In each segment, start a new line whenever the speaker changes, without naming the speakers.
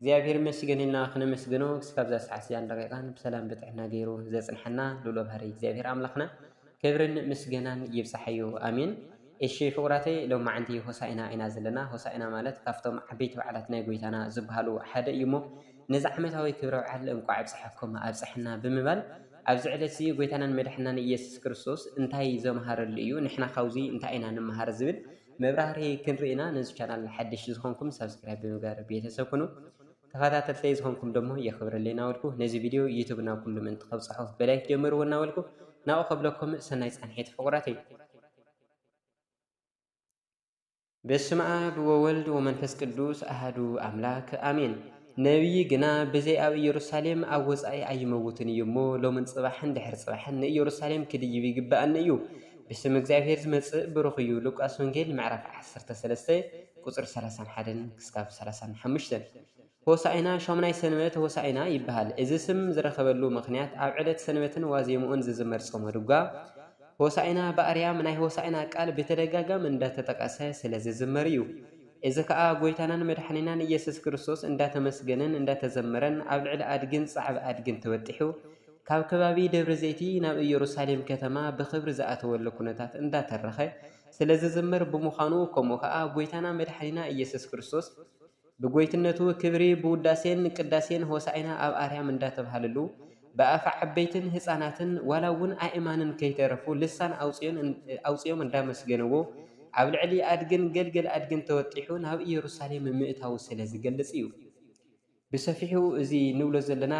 እግዚኣብሔር ይመስገን ኢልና ክነመስግኖ ክስካብ እዛ ሰዓት እዚኣን ደቂቃን ብሰላም ብጥዕና ገይሩ ዘጽንሐና ልኡለ ባህሪ እግዚኣብሔር ኣምላኽና ክብርን ምስገናን ይብጻሓዮ ኣሜን። እሺ ፍቁራተይ ሎም መዓንቲ ሆሳኢና ኢና ዘለና ሆሳኢና ማለት ካብቶም ዓበይቲ በዓላት ናይ ጎይታና ዝበሃሉ ሓደ እዩ እሞ ነዚ ዓመታዊ ክብረ በዓል እንቋዕ ኣብጽሓኩም ኣብጽሐና ብምባል ኣብዚ ዕለት እዚ ጎይታናን መድሕናን ኢየሱስ ክርስቶስ እንታይ ዘምሃረሉ እዩ ንሕና ካብዚ እንታይ ኢና ንምሃር ዝብል መብራህርሂ ክንርኢ ኢና ነዚ ቻናል ሓድሽ ዝኾንኩም ሳብስክራይብ ብምግባር ቤተሰብ ኩኑ ተኸታተልተይ ዝኾንኩም ደሞ የኽብረለይ እናበልኩ ነዚ ቪድዮ ዩቱብ ናብ ኩሉ ምእንቲ ከብፅሖ ብላይክ ጀምርዎ እናበልኩ ናብኡ ከብለኩም ሰናይ ፃንሒት ፍቑራተይ በስመ አብ ወወልድ ወመንፈስ ቅዱስ አህዱ አምላክ አሜን ነብዪ ግና ብዘይ ኣብ ኢየሩሳሌም ኣብ ወጻኢ ኣይመውትን እዩ እሞ፣ ሎምን ጽባሕን ድሕሪ ጽባሕን ንኢየሩሳሌም ክድይብ ይግብኣኒ እዩ። ብስም እግዚኣብሔር ዝመጽእ ብሩኽ እዩ። ሉቃስ ወንጌል ምዕራፍ ዓሰርተ ሰለስተ ቁጽሪ ሰላሳን ሓደን ክሳብ ሰላሳን ሓሙሽተን ሆሣዕና ሻሙናይ ሰንበት ሆሣዕና ይበሃል። እዚ ስም ዝረኸበሉ ምኽንያት ኣብ ዕለት ሰንበትን ዋዜምኡን ዝዝመር ጾመ ድጓ ሆሣዕና በኣርያም ናይ ሆሣዕና ቃል ብተደጋጋሚ እንዳተጠቐሰ ስለዝዝመር እዩ። እዚ ከኣ ጎይታናን መድሓኒናን እየሱስ ክርስቶስ እንዳተመስገነን እንዳተዘመረን ኣብ ልዕሊ ኣድግን ጻዕብ ኣድግን ተበጢሑ ካብ ከባቢ ደብረ ዘይቲ ናብ እየሩሳሌም ከተማ ብኽብሪ ዝኣተወሉ ኩነታት እንዳተረኸ ስለዝዝመር ብምዃኑ ከምኡ ከኣ ጎይታና መድሓኒና እየሱስ ክርስቶስ ብጎይትነቱ ክብሪ ብውዳሴን ቅዳሴን ሆሳኢና ኣብ ኣርያም እንዳተብሃለሉ ብኣፍ ዓበይትን ህጻናትን ዋላ ውን ኣእማንን ከይተረፉ ልሳን ኣውጺኦም እንዳመስገንዎ ኣብ ልዕሊ ኣድግን ገልገል ኣድግን ተወጢሑ ናብ ኢየሩሳሌም ምእታዉ ስለ ዝገልጽ እዩ። ብሰፊሑ እዚ ንብሎ ዘለና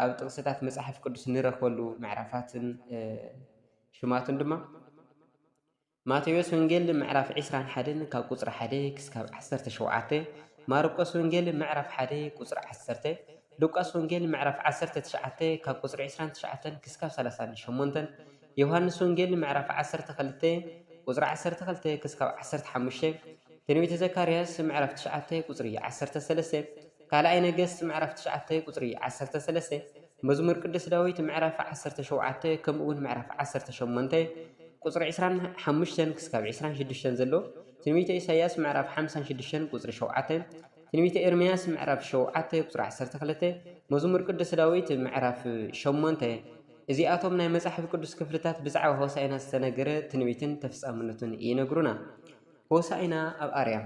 ኣብ ጥቅስታት መጽሓፍ ቅዱስ ንረኽበሉ ምዕራፋትን ሽማቱን ድማ ማቴዎስ ወንጌል ምዕራፍ ዕስራን ሓደን ካብ ቁፅሪ ሓደ ክስካብ ዓሰርተ ሸውዓተ፣ ማርቆስ ወንጌል ምዕራፍ ሓደ ቁፅሪ ዓሰርተ፣ ሉቃስ ወንጌል ምዕራፍ ዓሰርተ ትሽዓተ ካብ ቁፅሪ ዕስራን ትሽዓተን ክስካብ ሰላሳን ሸሞንተን፣ ዮሃንስ ወንጌል ምዕራፍ ዓሰርተ ክልተ ቁፅሪ ዓሰርተ ክልተ ክስካብ ዓሰርተ ሓሙሽተ፣ ትንቢተ ዘካርያስ ምዕራፍ ትሽዓተ ቁፅሪ ዓሰርተ ሰለስተ፣ ካልኣይ ነገስት ምዕራፍ ትሽዓተ ቁፅሪ ዓሰርተ ሰለስተ፣ መዝሙር ቅዱስ ዳዊት ምዕራፍ ዓሰርተ ሸውዓተ ከምኡ እውን ምዕራፍ ዓሰርተ ሸሞንተ ቁፅሪ ዕስራን ሓሙሽተን ክስካብ ዕስራን ሽዱሽተን ዘሎ ትንቢተ ኢሳይያስ ምዕራፍ ሓምሳን ሽዱሽተን ቁፅሪ ሸውዓተ ትንቢተ ኤርምያስ ምዕራፍ ሸውዓተ ቁፅሪ ዓሰርተ ክልተ መዝሙር ቅዱስ ዳዊት ምዕራፍ ሸሞንተ እዚኣቶም ናይ መጽሓፍ ቅዱስ ክፍልታት ብዛዕባ ሆሳኢና ዝተነገረ ትንቢትን ተፍጻምነቱን ይነግሩና። ሆሳኢና ኣብ ኣርያም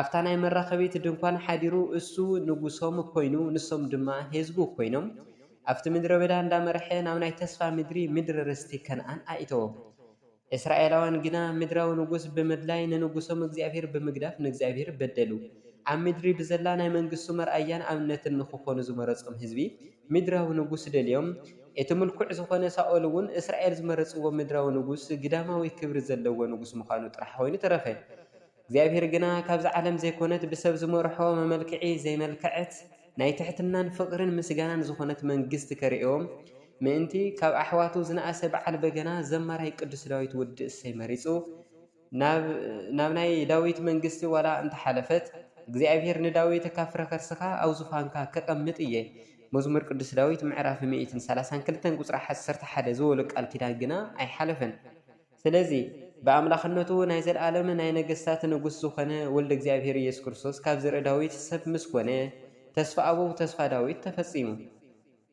ኣብታ ናይ መራኸቢት ድንኳን ሓዲሩ እሱ ንጉሶም ኮይኑ ንሶም ድማ ሔዝቡ ኮይኖም ኣብቲ ምድረ በዳ እንዳመረሐ ናብ ናይ ተስፋ ምድሪ ምድሪ ርስቲ ከነኣን ኣኢተዎም እስራኤላውያን ግና ምድራዊ ንጉስ ብምድላይ ንንጉሶም እግዚኣብሔር ብምግዳፍ ንእግዚኣብሔር በደሉ ኣብ ምድሪ ብዘላ ናይ መንግስቱ መርኣያን ኣብነትን ንክኾኑ ዝመረጾም ህዝቢ ምድራዊ ንጉስ ደልዮም እቲ ምልኩዕ ዝኾነ ሳኦል እውን እስራኤል ዝመረጽዎ ምድራዊ ንጉስ ግዳማዊ ክብሪ ዘለዎ ንጉስ ምዃኑ ጥራሕ ኮይኑ ተረፈ። እግዚኣብሔር ግና ካብዚ ዓለም ዘይኮነት ብሰብ ዝመርሖ መመልክዒ ዘይመልከዐት ናይ ትሕትናን ፍቅርን ምስጋናን ዝኾነት መንግስት ከርእዮም ምእንቲ ካብ ኣሕዋቱ ዝነኣሰ በዓል በገና ዘማራይ ቅዱስ ዳዊት ወዲ እሰይ መሪጹ ናብ ናይ ዳዊት መንግስት ዋላ እንተሓለፈት እግዚኣብሔር ንዳዊት ካብ ፍረ ከርስኻ ኣብ ዙፋንካ ከቀምጥ እየ መዝሙር ቅዱስ ዳዊት ምዕራፍ ሚእትን ሰላሳን ክልተን ቁጽሪ ዓሰርተ ሓደ ዝበሎ ቃል ኪዳን ግና ኣይሓለፈን። ስለዚ ብኣምላኽነቱ ናይ ዘለኣለም ናይ ነገስታት ንጉስ ዝኾነ ወልደ እግዚኣብሔር ኢየሱስ ክርስቶስ ካብ ዘርኢ ዳዊት ሰብ ምስ ኮነ ተስፋ ኣበው ተስፋ ዳዊት ተፈጺሙ።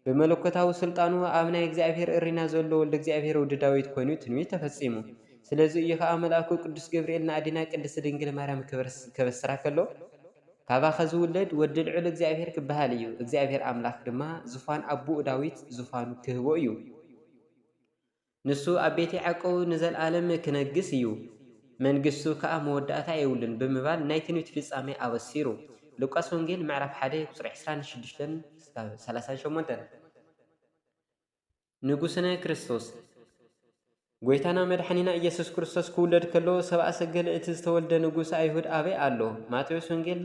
ብመለኮታዊ ስልጣኑ ኣብ ናይ እግዚኣብሔር እሪና ዘሎ ወልደ እግዚኣብሔር ወዲ ዳዊት ኮይኑ ትንቢት ተፈጺሙ። ስለዚ እዩ ከኣ መልኣኩ ቅዱስ ገብርኤል ንኣዴና ቅድስት ድንግል ማርያም ከበስራ ከሎ ካባኺ ዝውለድ ወዲ ልዑል እግዚኣብሔር ክበሃል እዩ እግዚኣብሔር ኣምላኽ ድማ ዙፋን ኣቦኡ ዳዊት ዙፋኑ ክህቦ እዩ። ንሱ ኣብ ቤት ያዕቆብ ንዘለኣለም ኪነግስ እዩ፣ መንግስቱ ከኣ መወዳእታ የብሉን ብምባል ናይ ትንቢት ፍጻሜ ኣበሲሩ። ሉቃስ ወንጌል ምዕራፍ ሓደ ቁጽሪ ዕስራን ሽዱሽተን እስካብ ሰላሳን ሸሞንተን። ንጉስነ ክርስቶስ። ጎይታና መድሓኒና ኢየሱስ ክርስቶስ ክውለድ ከሎ ሰብኣ ሰገል እቲ ዝተወልደ ንጉስ ኣይሁድ ኣበይ ኣሎ? ማቴዎስ ወንጌል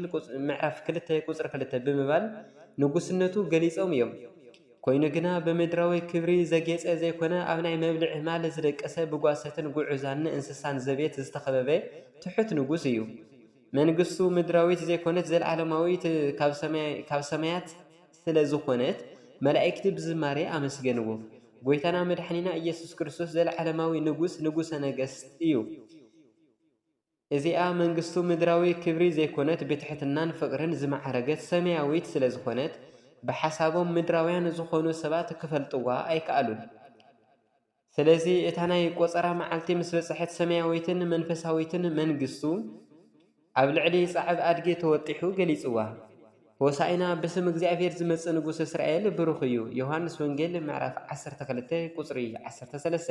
ምዕራፍ ክልተ ቁጽሪ ክልተ ብምባል ንጉስነቱ ገሊጾም እዮም። ኮይኑ ግና ብምድራዊ ክብሪ ዘጌጸ ዘይኮነ ኣብ ናይ መብልዒ ማል ዝደቀሰ ብጓሰትን ጉዑዛን እንስሳን ዘቤት ዝተኸበበ ትሑት ንጉስ እዩ። መንግስቱ ምድራዊት ዘይኮነት ዘለዓለማዊት ካብ ሰማያት ስለ ዝኾነት መላኢክቲ ብዝማሬ ኣመስገንዎ። ጎይታና መድሓኒና ኢየሱስ ክርስቶስ ዘለዓለማዊ ንጉስ ንጉሰ ነገስት እዩ። እዚኣ መንግስቱ ምድራዊ ክብሪ ዘይኮነት ብትሕትናን ፍቕርን ዝመዓረገት ሰማያዊት ስለ ዝኾነት ብሓሳቦም ምድራውያን ዝኾኑ ሰባት ክፈልጥዋ ኣይከኣሉን። ስለዚ እታ ናይ ቆጸራ መዓልቲ ምስ በጽሐት ሰማያዊትን መንፈሳዊትን መንግስቱ ኣብ ልዕሊ ጻዕብ ኣድጊ ተወጢሑ ገሊጽዋ። ሆሳኢና ብስም እግዚኣብሔር ዝመጽእ ንጉስ እስራኤል ብሩኽ እዩ ዮሃንስ ወንጌል ምዕራፍ ዓሰርተ ክልተ ቁጽሪ ዓሰርተ ሰለስተ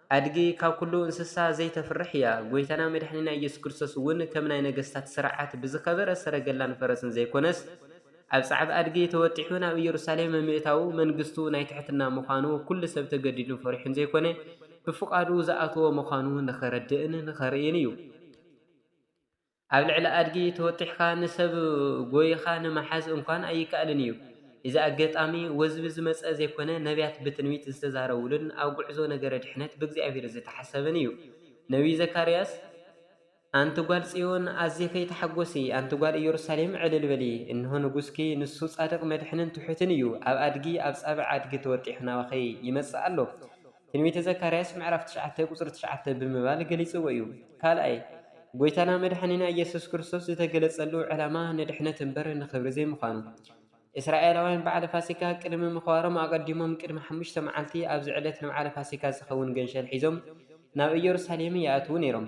ኣድጊ ካብ ኩሉ እንስሳ ዘይተፍርሕ እያ። ጎይታና መድሓኒና ኢየሱስ ክርስቶስ እውን ከም ናይ ነገስታት ስርዓት ብዝኸበረ ሰረገላን ፈረስን ዘይኮነስ ኣብ ጸዕብ ኣድጊ ተወጢሑ ናብ ኢየሩሳሌም ምእታዉ መንግስቱ ናይ ትሕትና ምዃኑ ኩሉ ሰብ ተገዲዱን ፈሪሑን ዘይኮነ ብፍቓዱ ዝኣተዎ ምዃኑ ንኸረድእን ንኸርእይን እዩ። ኣብ ልዕሊ ኣድጊ ተወጢሕካ ንሰብ ጎይኻ ንምሓዝ እንኳን ኣይከኣልን እዩ። እዚ ኣገጣሚ ወዝቢ ዝመጸ ዘይኮነ ነብያት ብትንቢት ዝተዛረቡሉን ኣብ ጉዕዞ ነገረ ድሕነት ብእግዚኣብሔር ዝተሓሰበን እዩ። ነብዩ ዘካርያስ፣ ኣንቲ ጓል ጽዮን ኣዚኺ ተሓጎሲ፣ ኣንቲ ጓል ኢየሩሳሌም ዕልል በሊ፣ እንሆ ንጉስኪ ንሱ ጻድቕ መድሕንን ትሑትን እዩ፣ ኣብ ኣድጊ ኣብ ጻብዕ ኣድጊ ተወጢሑ ናባኺ ይመጽእ ኣሎ። ትንቢተ ዘካርያስ ምዕራፍ ትሽዓተ ቁጽሪ ትሽዓተ ብምባል ገሊጽዎ እዩ። ካልኣይ፣ ጎይታና መድሓኒና ኢየሱስ ክርስቶስ ዝተገለጸሉ ዕላማ ንድሕነት እምበር ንኽብሪ ዘይምዃኑ። እስራኤላውያን በዓለ ፋሲካ ቅድሚ ምኽባሮም ኣቐዲሞም ቅድሚ ሓሙሽተ መዓልቲ ኣብዚ ዕለት ንበዓለ ፋሲካ ዝኸውን ገንሸል ሒዞም ናብ ኢየሩሳሌም ይኣትዉ ነይሮም።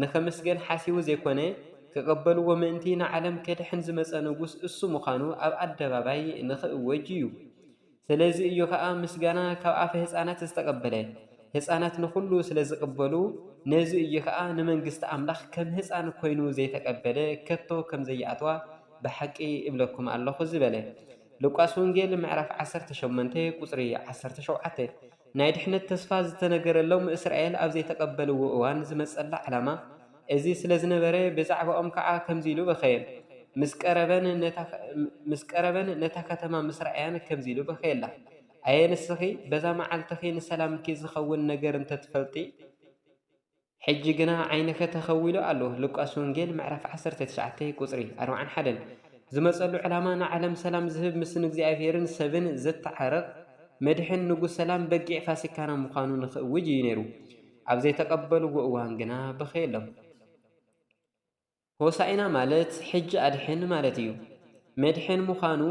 ንኽምስገን ሓሲቡ ዘይኮነ፣ ክቕበልዎ ምእንቲ ንዓለም ከድሕን ዝመጸ ንጉስ እሱ ምዃኑ ኣብ ኣደባባይ ንኽእወጅ እዩ። ስለዚ እዩ ኸኣ ምስጋና ካብ ኣፈ ህጻናት ዝተቐበለ። ህጻናት ንኹሉ ስለ ዝቕበሉ፣ ነዚ እዩ ኸኣ ንመንግስቲ ኣምላኽ ከም ህጻን ኮይኑ ዘይተቐበለ ከቶ ከም ዘይኣትዋ ብሓቂ እብለኩም ኣሎኹ ዝበለ። ሉቃስ ወንጌል ምዕራፍ ዓሰርተ ሸሞንተ ቁጽሪ ዓሰርተ ሸውዓተ። ናይ ድሕነት ተስፋ ዝተነገረሎም እስራኤል ኣብ ዘይተቐበልዎ እዋን ዝመጸላ ዕላማ እዚ ስለ ዝነበረ ብዛዕባኦም ከኣ ከምዚ ኢሉ በኸየን ምስ ቀረበን ነታ ከተማ ምስ ረኣያን ከምዚ ኢሉ በኸየላ ኣየ ንስኺ በዛ መዓልትኺ ንሰላምኪ ዝኸውን ነገር እንተ ትፈልጢ ሕጂ ግና ዓይንከ ተኸዊሉ ኣሎ ሉቃስ ወንጌል ምዕራፍ ዓሰርተ ትሽዓተ ቁጽሪ ኣርብዓን ሓደን ዝመጸሉ ዕላማ ንዓለም ሰላም ዝህብ ምስ ንእግዚኣብሔርን ሰብን ዘተዓርቕ መድሕን ንጉስ ሰላም በጊዕ ፋሲካና ምዃኑ ንኽእውጅ እዩ ነይሩ ኣብ ዘይተቐበልዎ እዋን ግና በኸየሎም ሆሣዕና ማለት ሕጂ ኣድሕን ማለት እዩ። መድሕን ምዃኑ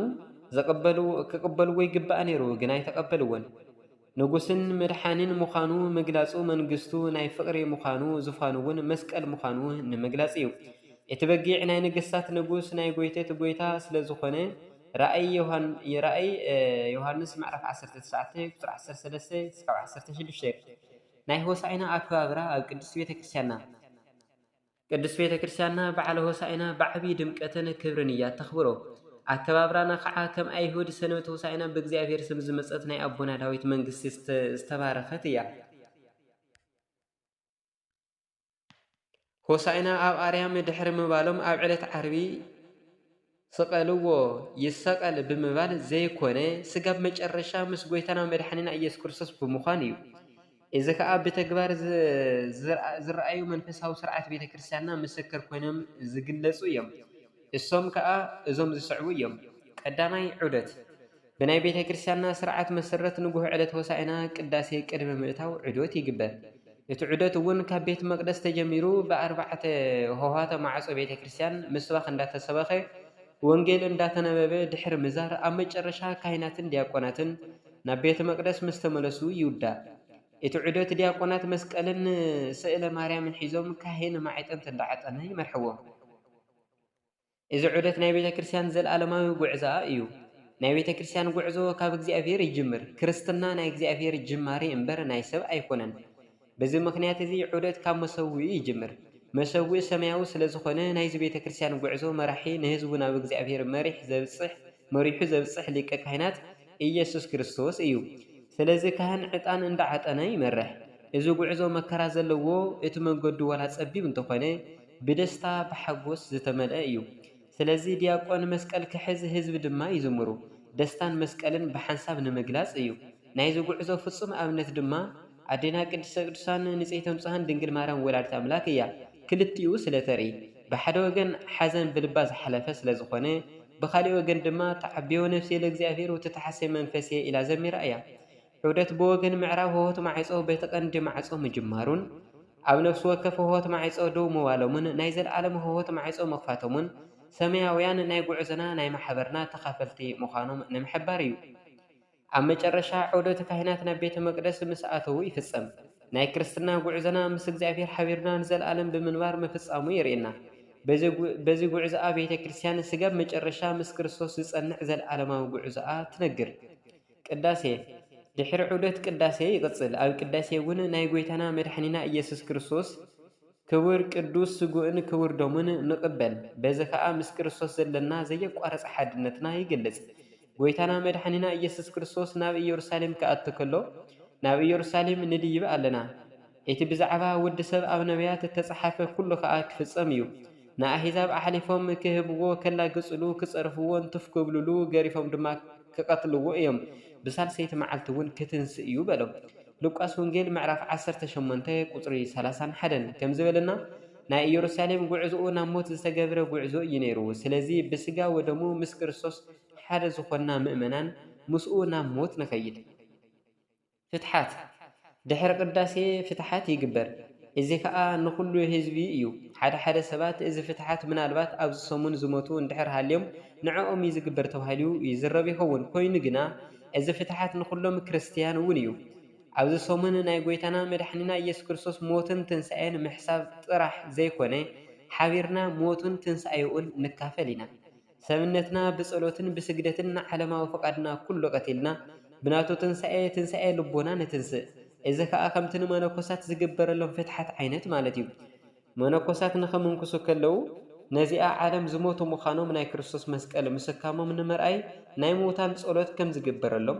ክቕበልዎ ይግባእ ነይሩ ግን ኣይተቐበልዎን። ንጉሥን መድሓኒን ምዃኑ ምግላጹ መንግሥቱ ናይ ፍቕሪ ምዃኑ ዙፋኑ'ውን መስቀል ምዃኑ ንምግላጽ እዩ። እቲ በጊዕ ናይ ነገሥታት ንጉሥ ናይ ጐይቶት ጐይታ ስለዝኾነ ራእይ ዮሐንስ ምዕራፍ ዓሰርተ ትሽዓተ ቁጽሪ ዓሰርተ ሰለስተ ክሳብ ዓሰርተ ሽዱሽተ። ናይ ሆሣዕና ኣከባብራ ኣብ ቅድስት ቤተክርስቲያንና። ቅድስት ቤተ ክርስቲያንና በዓለ ሆሳዕና ብዓብዪ ድምቀትን ክብርን እያ እተኽብሮ። ኣከባብራና ከዓ ከም ኣይሁድ ሰንበት ሆሳዕና ብእግዚኣብሔር ስም ዝመፀት ናይ ኣቦና ዳዊት መንግስቲ ዝተባረኸት እያ። ሆሳዕና ኣብ ኣርያም ድሕሪ ምባሎም ኣብ ዕለት ዓርቢ ስቀልዎ ይሰቀል ብምባል ዘይኮነ ስጋ ኣብ መጨረሻ ምስ ጎይታና መድሓኒና ኢየሱስ ክርስቶስ ብምዃን እዩ። እዚ ከኣ ብተግባር ዝረኣዩ መንፈሳዊ ስርዓት ቤተ ክርስትያንና ምስክር ኮይኖም ዝግለፁ እዮም። እሶም ከኣ እዞም ዝስዕቡ እዮም። ቀዳማይ ዑደት። ብናይ ቤተ ክርስቲያንና ስርዓት መሰረት ንጉህ ዕለት ሆሳእና ቅዳሴ ቅድሚ ምእታው ዑደት ይግበር። እቲ ዑደት እውን ካብ ቤት መቅደስ ተጀሚሩ ብኣርባዕተ ሆህዋተ ማዕጾ ቤተ ክርስቲያን ምስባኽ እንዳተሰበኸ ወንጌል እንዳተነበበ ድሕሪ ምዛር ኣብ መጨረሻ ካህናትን ዲያቆናትን ናብ ቤተ መቅደስ ምስተመለሱ ይውዳእ። እቲ ዑደት ዲያቆናት መስቀልን ስእለ ማርያምን ሒዞም ካህን ማዕጠንት እንዳዓጠነ ይመርሕዎም። እዚ ዑደት ናይ ቤተ ክርስትያን ዘልኣለማዊ ጉዕዞኣ እዩ። ናይ ቤተ ክርስትያን ጉዕዞ ካብ እግዚኣብሔር ይጅምር። ክርስትና ናይ እግዚኣብሔር ጅማሬ እምበር ናይ ሰብ ኣይኮነን። በዚ ምኽንያት እዚ ዑደት ካብ መሰውኢ ይጅምር። መሰውኢ ሰማያዊ ስለዝኾነ ናይዚ ቤተ ክርስትያን ጉዕዞ መራሒ ንህዝቡ ናብ እግዚኣብሔር መሪሕ ዘብጽሕ መሪሑ ዘብጽሕ ሊቀ ካህናት ኢየሱስ ክርስቶስ እዩ። ስለዚ ካህን ዕጣን እንዳ ዓጠነ ይመርሕ። እዚ ጉዕዞ መከራ ዘለዎ እቲ መንገዱ ዋላ ጸቢብ እንተኾነ ብደስታ ብሓጎስ ዝተመልኣ እዩ። ስለዚ ድያቆን መስቀል ክሕዝ ህዝቢ ድማ ይዝምሩ። ደስታን መስቀልን ብሓንሳብ ንምግላጽ እዩ። ናይዚ ጉዕዞ ፍጹም ኣብነት ድማ ኣዴና ቅድስተ ቅዱሳን ንጽሕቲ ንጹሓን ድንግል ማርያም ወላዲት ኣምላክ እያ ክልቲኡ ስለ ተርኢ ብሓደ ወገን ሓዘን ብልባ ዝሓለፈ ስለ ዝኾነ ብኻሊእ ወገን ድማ ተዓቤወ ነፍሴ ለእግዚኣብሔር ወትትሓሰይ መንፈሴ ኢላ ዘሚራ እያ ዑደት ብወገን ምዕራብ ሆሆት ማዕጾ በቲ ቀንዲ ማዕጾ ምጅማሩን ኣብ ነፍሲ ወከፍ ሆሆት ማዕጾ ደው ምባሎምን ናይ ዘለኣለም ሆሆት ማዕጾ ምኽፋቶምን ሰማያውያን ናይ ጉዕዞና ናይ ማሕበርና ተኻፈልቲ ምዃኖም ንምሕባር እዩ። ኣብ መጨረሻ ዑደት ካህናት ናብ ቤተ መቅደስ ምስ ኣተዉ ይፍጸም። ናይ ክርስትና ጉዕዞና ምስ እግዚኣብሔር ሓቢርና ንዘለዓለም ብምንባር ምፍጻሙ የርእየና። በዚ ጉዕዞኣ ቤተ ክርስቲያን ስጋብ መጨረሻ ምስ ክርስቶስ ዝጸንዕ ዘለዓለማዊ ጉዕዞኣ ትነግር። ቅዳሴ ድሕሪ ዑደት ቅዳሴ ይቅጽል። ኣብ ቅዳሴ እውን ናይ ጎይታና መድሓኒና ኢየሱስ ክርስቶስ ክቡር ቅዱስ ስግኡን ክቡር ደሙን ንቅበል በዚ ከኣ ምስ ክርስቶስ ዘለና ዘየቋረጸ ሓድነትና ይግልጽ። ጎይታና መድሓኒና ኢየሱስ ክርስቶስ ናብ ኢየሩሳሌም ክኣቱ ከሎ ናብ ኢየሩሳሌም ንድይብ ኣለና እቲ ብዛዕባ ወዲ ሰብ ኣብ ነብያት እተጸሓፈ ኩሉ ከኣ ክፍጸም እዩ ንኣሕዛብ ኣሕሊፎም ክህብዎ ከላግጽሉ ክጸርፍዎን ቱፍ ክብልሉ ገሪፎም ድማ ክቐትልዎ እዮም፣ ብሳልሰይቲ መዓልቲ እውን ኪትንስእ እዩ በሎም። ሉቃስ ወንጌል ምዕራፍ ዓሰርተ ሸሞንተ ቁጽሪ ሰላሳን ሓደን ከም ዝበለና ናይ ኢየሩሳሌም ጉዕዞኡ ናብ ሞት ዝተገብረ ጉዕዞ እዩ ነይሩ። ስለዚ ብስጋ ወደሙ ምስ ክርስቶስ ሓደ ዝኾንና ምእመናን ምስኡ ናብ ሞት ንኸይድ። ፍትሓት፣ ድሕሪ ቅዳሴ ፍትሓት ይግበር፣ እዚ ከኣ ንኹሉ ህዝቢ ኢዩ። ሓደ ሓደ ሰባት እዚ ፍትሓት ምናልባት ኣብዚ ሰሙን ዝሞቱ እንድሕር ሃልዮም ንዕኦም ኢዩ ዝግበር ተባሂሉ ይዝረብ ይኸውን። ኮይኑ ግና እዚ ፍትሓት ንኹሎም ክርስትያን እውን ኢዩ። ኣብዚ ሰሙን ናይ ጎይታና መድሓኒና ኢየሱስ ክርስቶስ ሞትን ትንሳኤን ምሕሳብ ጥራሕ ዘይኮነ ሓቢርና ሞቱን ትንሳኤኡን ንካፈል ኢና። ሰብነትና ብጸሎትን ብስግደትን ንዓለማዊ ፍቓድና ኩሉ ቀቲልና ብናቱ ትንሳኤ ትንሳኤ ልቦና ንትንስእ። እዚ ከኣ ከምቲ ንመነኮሳት ዝግበረሎም ፍትሓት ዓይነት ማለት እዩ። መነኮሳት ንኽምንኩሱ ከለዉ ነዚኣ ዓለም ዝሞቱ ምዃኖም ናይ ክርስቶስ መስቀል ምስካሞም ንምርኣይ ናይ ምዉታን ጸሎት ከም ዝግበረሎም